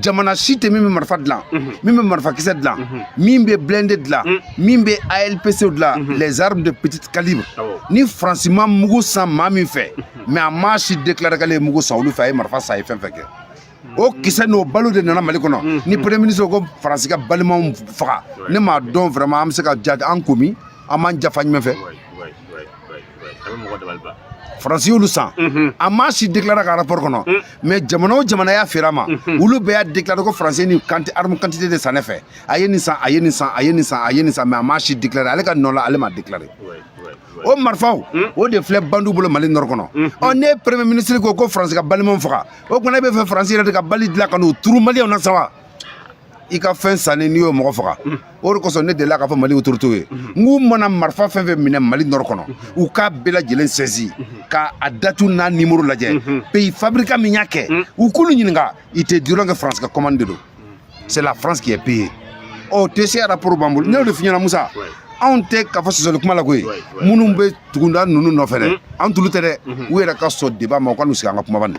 jamana si tɛ min bɛ marifa dilan mhm. min bɛ marifakisɛ dilan mhm. min bɛ blindé dilan mhm. min bɛ alpc dilan les armes de petite calibre ah ni faransi ma mugu san maa min fɛ mais a maa si déclaré k'ale ye mugu san olu fɛ a ye marifa san a ye fɛn fɛn kɛ o kisɛ n'o balle o de nana mali kɔnɔ ni premier ministre ko faransi ka balle m'u faga ne m'a dɔn vraiment an bɛ se ka ja an ko min an b'an ja fan jumɛn fɛ faransi y'olu san a ma si déclaré ka rapport kɔnɔ mais jamana o jamana y'a feere a ma olu bɛɛ y'a déclaré ko faransi ni kanti arme quantité de san ne fɛ a ye nin san a ye nin san a ye nin san a ye nin san mais a ma si déclaré ale ka nɔ la ale m'a déclaré o marifaw o de filɛ bandiw bolo mali nord kɔnɔ ɔ ne premier ministre ko ko faransi ka balle m'an faga o tuma na e bɛ fɛ faransi yɛrɛ de ka balle dilan ka n'u turu maliyɛnw na sa wa i ka fɛn sanni n'i y'o mɔgɔ faga o de kosɔn ne delila k'a fɔ mali autoritéw ye n k'u mana marifa fɛn fɛn minɛ mali nord kɔnɔ u k'a bɛɛ lajɛlen saisir ka a date n'a numéro lajɛ pays fabricant min y'a kɛ u k'olu ɲininka ils te diront que faransi ka commande de don c'est la france qui a payé ɔ tca rapport b'an bolo ne y'o de f'i ɲɛna musa anw tɛ k'a fɔ sɔsɔli kuma la koyi minnu bɛ tugunda ninnu nɔfɛ dɛ an tulu tɛ dɛ u yɛrɛ ka sɔn débat ma u ka n'u sigi an ka kuma bani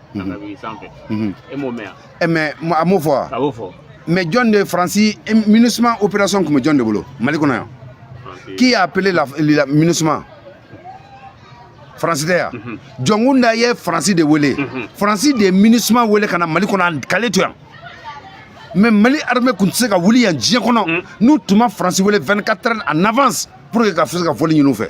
ka taa wuli sanfɛ e m'o mɛn yan mais a m'o fɔ wa a b'o fɔ mais jɔn de ye faransi minusima opération tun bɛ jɔn de bolo mali kɔnɔ yan qui a appelé la, la minusima faransi tɛ yan jɔnkunda ye faransi de wele faransi de ye minusima wele ka na mali kɔnɔ k'ale to yan mais mali armée tun tɛ se ka wuli yan diɲɛ kɔnɔ n'u tun ma faransi wele 24 heures en avance pour que ka se ka vol ɲini u fɛ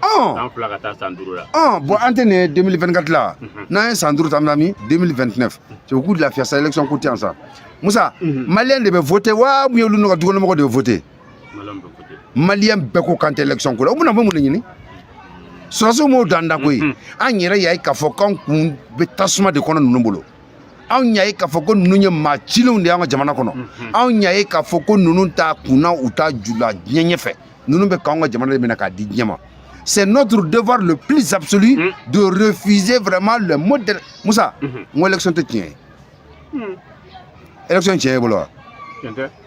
san fila ka taa san duuru la bon an tɛ nin 2024 la n'an ye san duuru ta bɛna min 2029 cɛ u k'u lafiya sa élection ko tɛ yan sa musa maliyɛn de bɛ voter wa ou bien olu n'u ka dukɔnɔmɔgɔ de bɛ voter maliyɛn bɛɛ ko k'an tɛ élection ko la u bɛna bɔ mun de ɲini sɔrɔsiw m'o dan da koyi an yɛrɛ y'a ye k'a fɔ k'an kun bɛ tasuma de kɔnɔ ninnu bolo anw y'a ye k'a fɔ ko ninnu ye maa cilenw de y'an ka jamana kɔnɔ anw y'a ye k'a fɔ ko ninnu t'a kun na u t'a ju la diɲɛ ɲɛfɛ ninnu bɛ k'anw ka jamana de minɛ k'a di diɲɛ ma c'est notre devoir le plus absolu mm. de refuser vraiment le modèle Moussa mm -hmm. n ko élection tɛ tiɲɛ ye mm. élection tiɲɛ ye bolo wa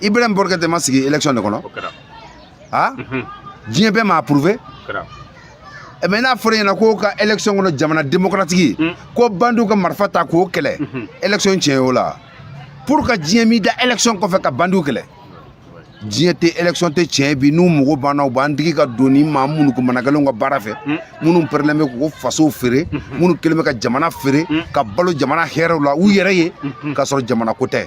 ibrahim boubacar keïta ma sigi élection de kɔnɔ ha diɲɛ bɛɛ m'a approuver mais n'a fɔra ɲɛna k'o ka élection kɔnɔ jamana démocratique hmm. ko bandiw ka marifa ta k'o kɛlɛ élection tiɲɛ y'o la pourquoi diɲɛ m'i da élection kɔfɛ ka bandiw kɛlɛ diɲɛ tɛ élection tɛ tiɲɛ bi n'u mago banna u b'an digi ka don ni maa minnu ko managɛlɛnw ka baara fɛ hmm. minnu pɛrɛlen bɛ k'u fasow feere hmm. minnu kɛlen bɛ ka jamana feere ka balo jamana hɛrɛw la u yɛrɛ ye k'a sɔrɔ jamana ko tɛ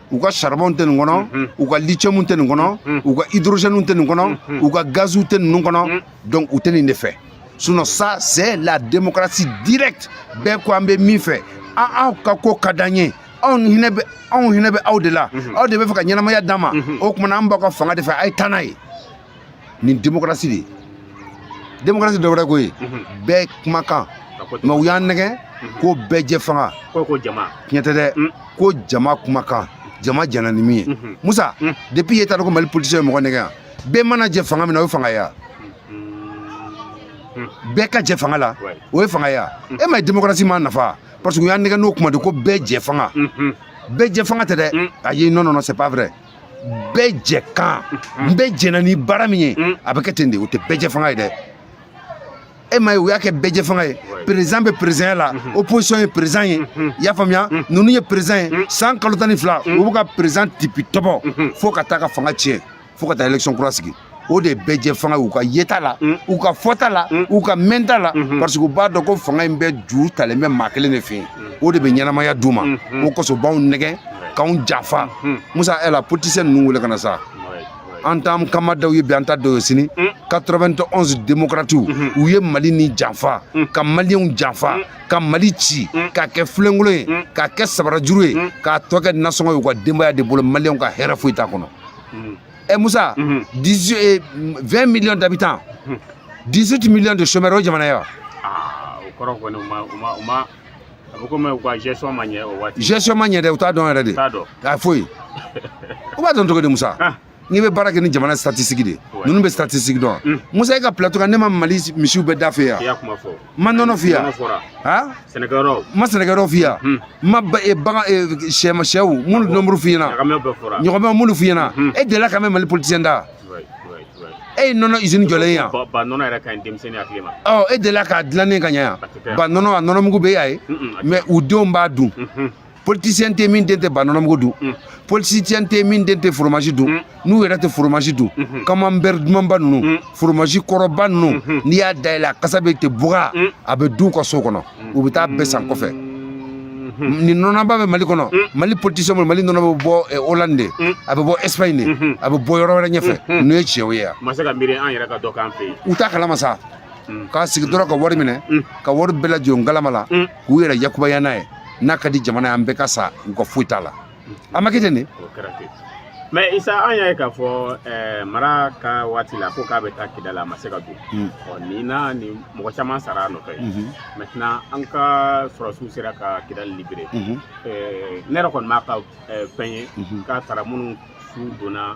u ka charbon tɛ nin kɔnɔ u ka lithium tɛ nin kɔnɔ u ka hydrogène tɛ nin kɔnɔ u ka gaziw tɛ ninnu kɔnɔ donc u tɛ nin de fɛ sinon ça c'est la démocratie directe bɛɛ ko an bɛ min fɛ an aw ka ko ka d'an ye anw hinɛ bɛ anw hinɛ bɛ aw de la aw de bɛ fɛ ka ɲɛnamaya d'an ma o tuma na an b'aw ka fanga de fɛ a ye taa n'a ye nin démocratie de ye démocratie dɔ wɛrɛ ko ye bɛɛ kumakan mais u y'an nɛgɛ ko bɛɛ jɛ fanga tiɲɛ tɛ dɛ ko jama kumakan jama jɛna ni min ye musa depuis e t'a dɔn ko mali politicien bɛ mɔgɔ nɛgɛ yan bɛɛ mana jɛ fanga min na o ye fanga ye yan bɛɛ ka jɛ fanga la o ye fanga ye yan e ma ye démocratie m'an nafa parce que u y'an nɛgɛ n'o kuma de ko bɛɛ jɛ fanga bɛɛ jɛ fanga tɛ dɛ ayi non non non c'est pas vrai bɛɛ jɛ kan n bɛɛ jɛna ni baara min ye a bɛ kɛ ten de o tɛ bɛɛ jɛ fanga ye dɛ e ma ye u y'a kɛ bɛɛ jɛ fanga ye président bɛ présidentya la opposition ye président ye i y'a faamuya ninnu ye président ye san kalo tan ni fila u bɛ ka président tipi tɔbɔ fo ka taa ka fanga tiɲɛ fo ka taa élection kura sigi o de bɛɛ jɛ fanga ye u ka yeta la mm. u ka fɔta la mm. u ka mɛnta la mm-hmm. parce que u b'a dɔn ko fanga in bɛɛ ju talen bɛ maa kelen de fɛ yen mm. o de bɛ ɲɛnamaya d'u ma mm-hmm. o kosɔn u b'anw nɛgɛ k'anw janfa mm-hmm. musa e la politicien ninnu wele ka na sa an t'an kama dɔw ye bi an ta dɔw ye sini 91 démocratiw u ye mali nin janfa ka maliyɛnw janfa ka mali ci k'a kɛ filenkolon ye k'a kɛ sabarajuru ye k'a tɔ kɛ nasɔngɔ ye u ka denbaya de bolo maliyɛnw ka hɛrɛ foyi t'a kɔnɔ ɛ eh, musa 20 millions d'habitants 18 millions de chômeurs o jamana ye wa ah, o kɔrɔ kɔni u ma u ma u ma a bɛ komi u ka gestion ma ɲɛ o waati gestion ma ɲɛ dɛ u t'a dɔn yɛrɛ de t'a dɔn a foyi u b'a dɔn cogo di musa ah. n'i bɛ baara kɛ ni jamana statistique de ninnu bɛ statistique dɔn musa e ka plateau kan ne ma mali misiw bɛɛ da f'i ye yan ma nɔnɔ f'i ye yan ha sɛnɛkɛyɔrɔ ma sɛnɛkɛyɔrɔ f'i ye yan n ma bagan shɛ ma shɛw minnu nombre f'i ɲɛna ɲɔgɔmɛ minnu f'i ɲɛna e delila k'a mɛn mali politicien da e ye nɔnɔ usine jɔlen yan ba nɔnɔ yɛrɛ ka ɲi denmisɛnnin hakili ma ɔ e delila k'a dilannen k'a ye yan ba nɔnɔ a nɔnɔmugu bɛ yan ye mais u denw b'a dun politicien tɛ min den tɛ banɔnɔmugu dun mm. politicien tɛ min den tɛ fromage dun mm. n'u yɛrɛ tɛ fromage dun mm-hmm. camembert dumanba ninnu mm. fromage kɔrɔba ninnu mm-hmm. n'i y'a dayɛlɛ a kasa bɛ tɛ buga a bɛ dun u ka so kɔnɔ u bɛ taa a bɛɛ san kɔfɛ mm-hmm. nin nɔnɔba bɛ mali kɔnɔ mali politicien bolo mali nɔnɔ bɛ bɔ eh, hollande de a bɛ bɔ espagne de a bɛ bɔ yɔrɔ wɛrɛ ɲɛfɛ n'o ye tiɲɛw ye yan ma se ka miiri an yɛrɛ ka dɔ k'an fɛ yen u t'a kalama sa k'a sigi dɔrɔn ka wari minɛ ka wari bɛɛ lajɔ ngalama la k'u yɛrɛ yakubaya n'a ye n'a ka di jamana ye an bɛɛ ka sa u ka foyi t'a la a ma kɛ ten de mais isa an y'a ye k'a fɔ eh, mara ka waati la ko k'a bɛ taa kidal a ma se ka don hmm. ɔ nin na ni mɔgɔ caman sara a nɔfɛ hmm. maintenant an ka sɔrɔsiw sera ka kidal libérer hmm. eh, ne yɛrɛ kɔni m'a ka eh, fɛn ye k'a taara minnu su donna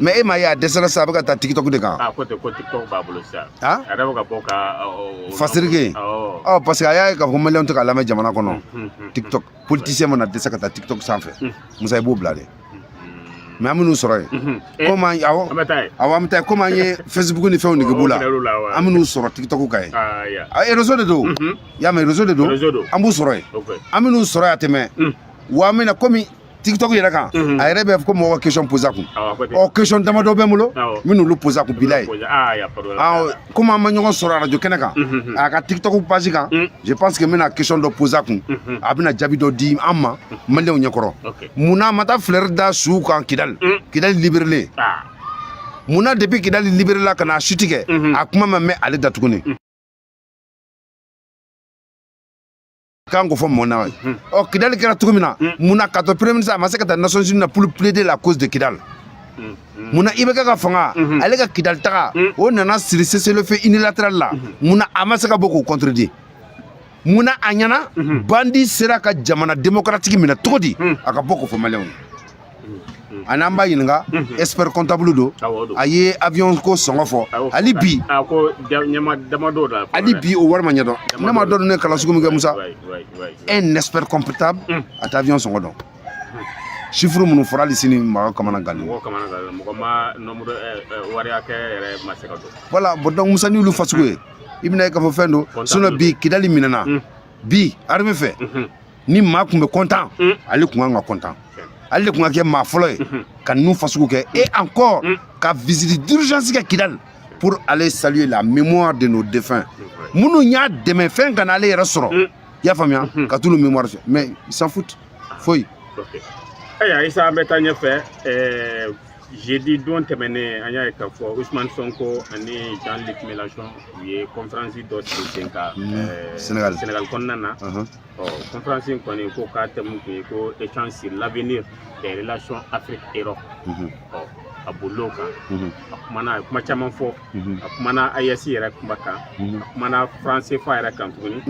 mais e m'a ye a dɛsɛra sa a bɛ ka taa tiktok de kan ko tiktok b'a bolo sisan a yɛrɛ bɛ ka bɔ ka fasiri kɛ ɔ parce que a y'a ye k'a fɔ maliyɛnw tɛ k'a lamɛn jamana kɔnɔ tiktok politisiyɛn mana dɛsɛ ka taa tiktok sanfɛ musa i b'o bila de mais an bɛn'u sɔrɔ yen komi an awɔ awɔ an bɛ taa yen komi an ye facebook ni fɛnw nege b'u la an bɛn'u sɔrɔ tiktok kan yen erezo de don y'a mɛn erezo de don an b'u sɔrɔ yen an bɛn'u sɔrɔ yen a tɛ mɛɛn wa an bɛna komi tiktok yɛrɛ kan a yɛrɛ bɛ ko mɔgɔ ka question poser a kun ɔ question damadɔ bɛ n bolo n bɛn'olu poser a kun bilayi komi an ma ɲɔgɔn sɔrɔ arajo kɛnɛ kan a ka tiktok page kan je pense que n bɛna question dɔ poser a kun a bɛna jaabi dɔ di an ma maliyɛnw ɲɛkɔrɔ mun na a ma taa fleur da suw kan kidali kidali liberelen mun na depuis kidali liberela ka na a suti kɛ a kuma ma mɛn ale da tuguni k'an ko fɔ mun na ɔ kidali kɛra cogo min na mun na k'a to premier ministre a ma se ka taa nations unies na pour plaider la cause de kidal mun na ibk ka fanga ale ka kidali taga o nana siri cessez-le-feu unilatéral la mun na a ma se ka bɔ k'o contredire mun na a ɲɛ na bandi sera ka jamana démocratique minɛ cogo di a ka bɔ k'o fɔ maliyɛnw ye ani an b'a ɲininka expert comptable don a ye avion ko sɔngɔ fɔ hali bi hali bi o wari ma ɲɛdɔn ne m'a dɔn a ye kalan sugu min kɛ musa un expert comptable a tɛ avion sɔngɔ dɔn chiffre minnu fɔra hali sini mɔgɔ kamana gannen mɔgɔ kamana gannen mɔgɔ ma nombre wari hakɛ yɛrɛ ma se ka dɔn voilà bon donc musa n'i y'olu fasugu ye i bɛn'a ye k'a fɔ fɛn don sinon bi kidali minɛna bi arme fɛ ni maa tun bɛ kɔntan mm. ale tun ka kan ka kɔntan ale de tun ka kɛ maa fɔlɔ ye mm-hmm. ka ninnu fasugu kɛ et encore mm. ka visite d'urgence kɛ kidali pour aller saluer la mémoire de nos défunts minnu y'a dɛmɛ fɛn kana ale yɛrɛ sɔrɔ mm. i y'a faamuya mm-hmm. ka t'olu mémoire fo mais il s'en fout foyi ayiwa isa an bɛ taa ɲɛfɛ euh, jeudi don tɛmɛnen an y'a ye k'a fɔ usman sonko ani jean luc mélenchon u ye conférence dɔ sigi sen kan euh, sénégal kɔnɔna na uh-huh. kɔnferansi in kɔni ko k'a thème kun ye ko échange sur l'avenir des relations Afrique Europe a bolil'o kan a kumana a ye kuma caman fɔ a kumana AES yɛrɛ kuma kan a kumana franc CFA yɛrɛ kan tuguni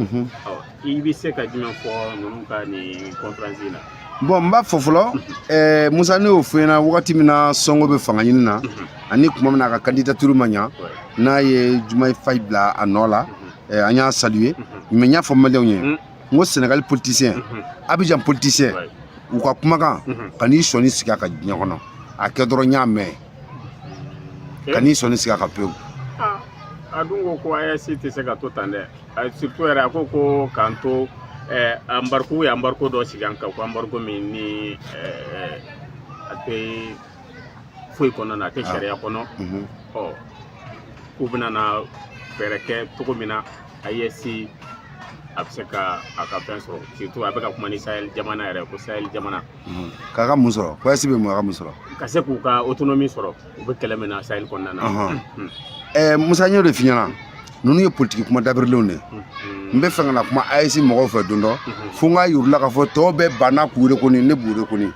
i bɛ se ka jumɛn fɔ ninnu ka nin kɔnferansi in na bɔn n b'a fɔ fɔlɔ ɛɛ musa ne y'o fɔ aw ɲɛna wagati min na sonko bɛ fanga ɲini na ani kuma min na a ka kandidaturu ma ɲa n'a ye diomaye faye bila a nɔ la eh, an y'a saluer mhm. mais n y'a fɔ maliyɛnw ye mhm. n ko senegali politisiyɛn mhm. abijan politisiyɛn u ka kumakan kan'i sɔnin sigi a kan diɲɛ kɔnɔ a kɛ dɔrɔn n y'a mɛn eh? kan'i sɔnin sigi a kan pewu ah, a dun ko ko AES tɛ se ka to tan dɛ surtout yɛrɛ a ko ko k'an to eh, embargo u ye embargo dɔ sigi an kan ko embargo min ni a tɛ foyi kɔnɔna na a tɛ sariya kɔnɔ ɔ k'u bɛna na fɛɛrɛ kɛ cogo min na aes a bɛ se ka a ka fɛn sɔrɔ surtout a bɛ ka kuma ni sahel jamana yɛrɛ ko sahel jamana k'a ka mun sɔrɔ ko aes bɛ mun a ka mun sɔrɔ ka se k'u ka autonomie sɔrɔ u bɛ kɛlɛ min na sahel kɔnɔna na ɛɛ musa n y'o de f'i ɲɛna ninnu ye politiki kuma dabirilenw de ye n bɛ fɛ ka na kuma aes mɔgɔw fɛ don dɔ fo n k'a yir'u la k'a fɔ tɔw bɛɛ banna k'u reconnu ne b'u reconnu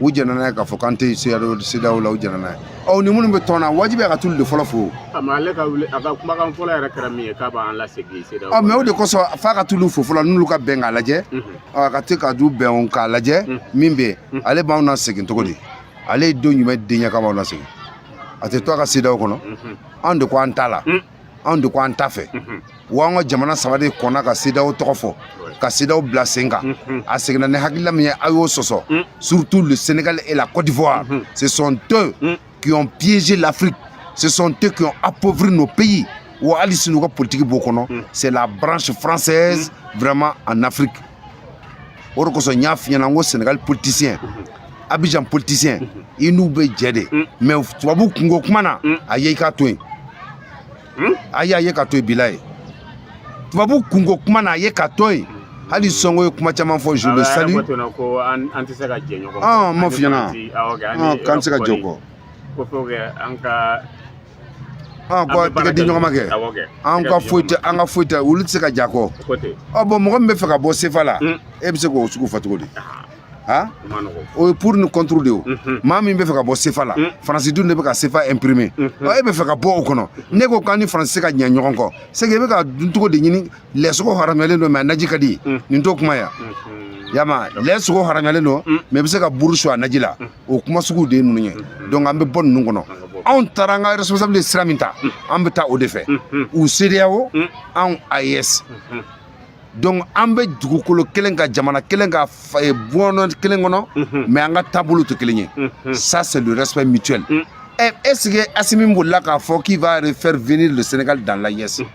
u jɛnna n'a ye k'a fɔ k'an tɛ cedeao la u jɛnna n'a ye ɔ ni minnu bɛ tɔn na wajibi a ka t'olu de fɔlɔ fo ah mais ale ka wuli a ka kumakan fɔlɔ yɛrɛ kɛra min ye k'a b'an lasegin cedeao mais o de kosɔn f'a ka t'olu fo fɔlɔ n'olu ka bɛn k'a lajɛ a ka t'a ka du bɛn k'a lajɛ min bɛ yen ale b'anw nasegin cogo di ale ye don jumɛn den ye k'a b'anw nasegin a tɛ to a ka cedeao kɔnɔ anw de ko an t'a la anw de ko an t'a fɛ wa an ka jamana saba de kɔnna ka cedeao tɔgɔ fɔ ka cedeao bila sen kan a seginna ni hakilila min ye a y'o sɔsɔ surtout le sénégal et la côte d'ivoire ce sont eux qui ont piégé l'afrique ce sont eux qui ont appauvri nos pays wa hali sini u ka politiki b'o kɔnɔ c'est la branche française vraiment en afrique o de kosɔn n y'a f'i ɲɛna n ko sénégal politicien abidjan politicien i n'u bɛ jɛ de mais tubabu kunko kuma na a ye i k'a to yen a ye a ye ka to yen bila ye tubabu kunko kuma na a ye ka to yen hali sonko ye kuma caman fɔ je le salue a m'a f'i ɲɛna k'an tɛ se ka ɲɛ u kɔ ko fo an ka ko tɛgɛ di ɲɔgɔn ma kɛ an ka foyi tɛ an ka foyi tɛ olu tɛ se ka ɲ'an kɔ ɔ bon mɔgɔ min bɛ fɛ ka bɔ sefa la e bɛ se k'o sugu fɔ cogo di o ye pour ni contre de ye o maa min bɛ fɛ ka bɔ sefa la faransi dun de bɛ ka sefa imprimer ɔ e bɛ fɛ ka bɔ o kɔnɔ n'e ko k'an ni faransi tɛ se ka ɲɛ ɲɔgɔn kɔ c'est que e bɛ ka dun cogo de ɲini lɛ sogo haramuyalen don mais a naji ka di nin t'o kuma ya yama lɛ sogo haramuyalen don mais i bɛ se ka buru su a naji la o kuma sugu de ye ninnu ye donc an bɛ bɔ ninnu kɔnɔ anw taara an ka responsable ye sira min ta an bɛ taa o de fɛ u cedeao anw aes donc an bɛ dugukolo kelen kan jamana kelen kan bɔnɔ kelen kɔnɔ mais an ka taabolo tɛ kelen ye ça c'est le respect mutuel est ce que assimi bolila k'a fɔ qu'il va faire venir le sénégal dans l'aes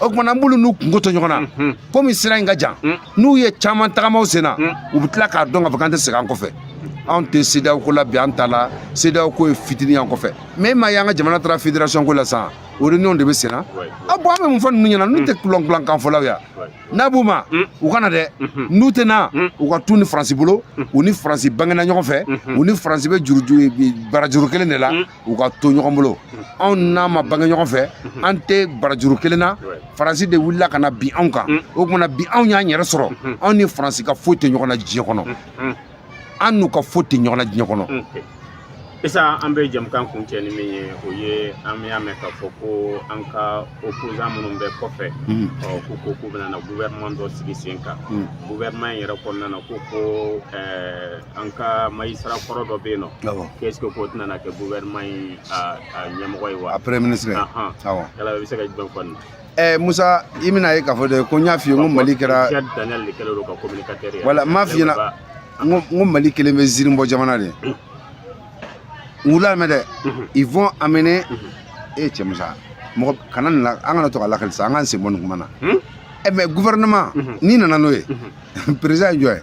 o tuma na n b'olu n'u kungo to ɲɔgɔn na komi sira in ka jan n'u ye caman tagama u sen na u bɛ tila k'a dɔn k'a fɔ k'an tɛ segin an kɔfɛ anw tɛ cedeao ko la bi an t'a la cedeao ko ye fitini y'an kɔfɛ mais e m'a ye an ka jamana taara fédération ko la sisan o réunion de bɛ sen na ah bon an bɛ mun fɔ ninnu ɲɛna n'u tɛ kulɔnkulankan fɔlaw ya n'a b'u ma u ka na dɛ n'u tɛ na u ka t'u ni faransi bolo u ni faransi bangena ɲɔgɔn fɛ u ni faransi bɛ juru barajuru kelen de la u ka to ɲɔgɔn bolo anw n'a ma bange ɲɔgɔn fɛ an tɛ barajuru kelen na faransi de wulila ka na bin anw kan o tuma na bi anw y'an yɛrɛ sɔrɔ anw ni faransi ka foyi tɛ ɲɔgɔn na diɲɛ kɔnɔ an n'u ka foyi tɛ ɲɔgɔn na diɲɛ kɔnɔ Isa an bɛ jamukan kuncɛ ni min ye o ye an y'a mɛn k'a fɔ ko an ka opposant minnu bɛ kɔfɛ ɔ ko ko k'u bɛna na gouvernement dɔ sigi sen kan gouvernement in yɛrɛ kɔnɔna na ko ko ɛɛ an ka magistrat kɔrɔ dɔ bɛ yen nɔ qu'est-ce que k'o tɛna na kɛ gouvernement in a ɲɛmɔgɔ ye wa a premier ministre awɔ yala i bɛ se ka jumɛn fɔ nin na Eh, Musa i bɛn'a ye k'a fɔ de ko n y'a f'i ye ko Mali kɛra voilà n m'a f'i ɲɛna n ko Mali kɛlen bɛ zirinbɔ jamana de n k'u lamɛn dɛ ils vont amener e cɛ Musa mɔgɔ kana nin la an kana to ka lakali sa an k'an sen bɔ nin kuma na ɛ mais gouvernement n'i nana n'o ye président ye jɔn ye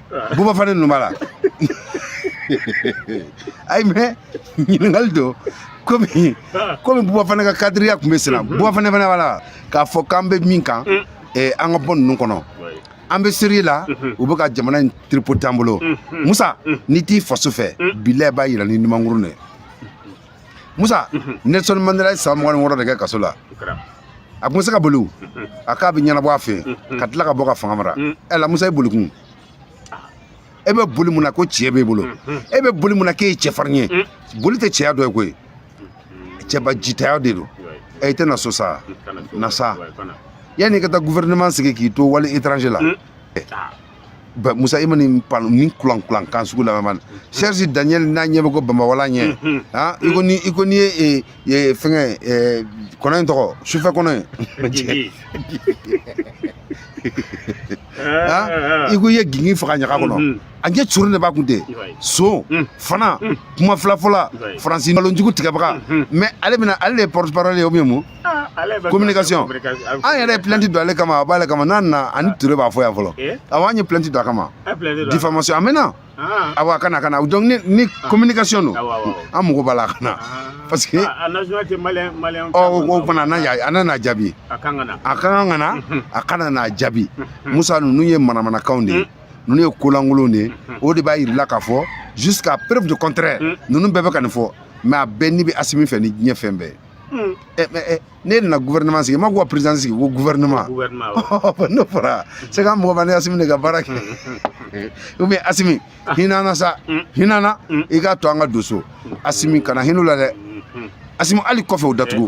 Buba Fane ninnu b'a la ayi mais ɲininkali don komi komi Buba Fane ka cadre tun bɛ sen na Buba Fane fana b'a la k'a fɔ k'an bɛ min kan eh, an ka bɔ ninnu kɔnɔ an bɛ série la u bɛ ka jamana in tripoter an bolo musa n'i t'i faso fɛ bilayi b'a yira ni numankuru de ye musa nelson mandela ye san mugan ni wɔɔrɔ de kɛ kaso la a tun bɛ se ka boli a k'a bɛ ɲɛnabɔ a fɛ ka tila ka bɔ ka fanga mara ɛ la musa i boli kun e bɛ boli mun na ko tiɲɛ b'e bolo e bɛ boli mun na k'e ye cɛfarin ye boli tɛ cɛya dɔ ye koyi cɛba jitaya de don ɛ i tɛ na so sa na sa yanni i ka taa gouvernement sigi k'i to wali étranger la Ba- Musa i ma nin pan nin kulan kulan kan sugu lamɛn Serge Daniel n'a ɲɛ bɛ ko Bamawala ɲɛ ah i ko ni i ko ni ye eh, eh, fɛngɛ eh, kɔnɔ in tɔgɔ sufɛ kɔnɔ in gingin. ah i ko i ye gingin faga ɲaga kɔnɔ Mhm. a ɲɛ cori de b'a kun ten I b'a ye. son Mm. fana kuma filafɔla faransi nkalonjugu tigɛbaga Mhm. mais ale bɛna ale de ye porte parole ye ou bien mun Ah, communication an yɛrɛ ye plainte don ale kama a b'ale kama n'a nana ani ah. ture b'a fɔ yan fɔlɔ eh? awa an ye plainte don a kama diffamation a mɛnna ah. awa a ka na a ka na donc ni, ni communication don an mago b'a la a ka na parce que o fana a nana jaabi a ka kan ka na a ka na n'a jaabi musa ninnu ye manamanakanw de ye mm. ninnu ye kolankolon de ye mm-hmm. o de b'a yira i la k'a fɔ jusqu'à preuve du contraire mm. ninnu bɛɛ bɛ ka nin fɔ mais a bɛɛ ni bɛ asimi fɛ ni diɲɛ fɛn bɛɛ ye Hmm. Eh, eh, eh, ne nana gouvernement sigi ma ko président sigi ko gouvernement n'o fɔra c'est ka mɔgɔ ni asimi de ka baara kɛ ou bien asimi ah. hin'an na sa hmm. hin'an na hmm. i k'a to an ka don so asimi kana hin'u la dɛ asimi hali kɔfɛ o datugu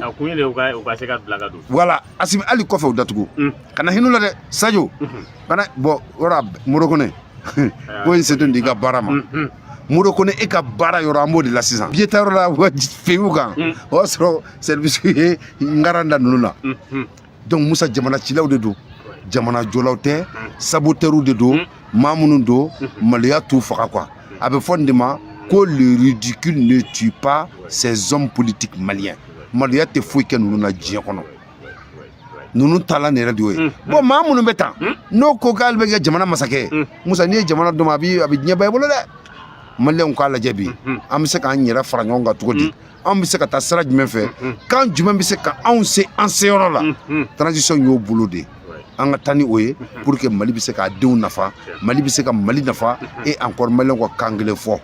voilà asimi hali kɔfɛ o datugu kana hin'u la dɛ sajo bana bɔn yɔrɔ moro kone ko in setun di ka baara ma moro kone e ka baara yɔrɔ an b'o de la sisan biye taa yɔrɔ la feyiw kan o y'a sɔrɔ sɛribisi ye ngaran da ninnu na donc musa jamana cilaw de don jamana jɔlaw tɛ sabotɛriw de don maa minnu don maloya t'u faga quoi a bɛ fɔ nin de ma ko le ridicule ne tue pas ces hommes politiques maliens maloya tɛ foyi kɛ ninnu na diɲɛ kɔnɔ ninnu taalan yɛrɛ de y'o ye bɔn maa minnu bɛ tan n'o ko k'ale bɛ kɛ jamana masakɛ ye musa n'i ye jamana d'o ma a bɛ diɲɛba i bolo dɛ maliyɛnw k'a lajɛ bi an bɛ se k'an yɛrɛ fara ɲɔgɔn kan cogo di an bɛ se ka taa sira jumɛn fɛ kan jumɛn bɛ se ka anw se an seyɔrɔ la transition y'o boloda an ka taa ni o ye pour que mali bɛ se k'a denw nafa mali bɛ se ka mali nafa et encore maliyɛnw ka kan kelen fɔ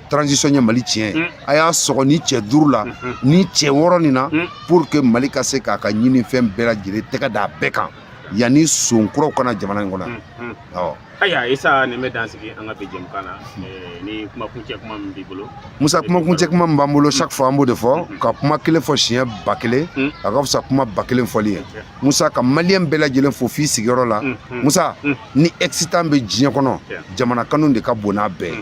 transition ye mali tiɲɛ ye a y'a sɔgɔ ni cɛ duuru la ni cɛ wɔɔrɔ nin na pour que mali ka se k'a ka ɲini fɛn bɛɛ lajɛlen tɛgɛ d'a bɛɛ kan yanni son kuraw ka na jamana in kɔnɔ awɔ ayiwa isa nin bɛ dansigi an ka bi jɛmukan na ni kumakuncɛ kuma min b'i bolo musa kumakuncɛ kuma min b'an bolo chaque fois an b'o de fɔ ka kuma kelen fɔ siɲɛ ba kelen a ka fisa kuma ba kelen fɔli ye musa ka maliyɛn bɛɛ lajɛlen fo f'i sigiyɔrɔ la musa ni excitant bɛ diɲɛ kɔnɔ jamana kanu de ka bon n'a bɛɛ ye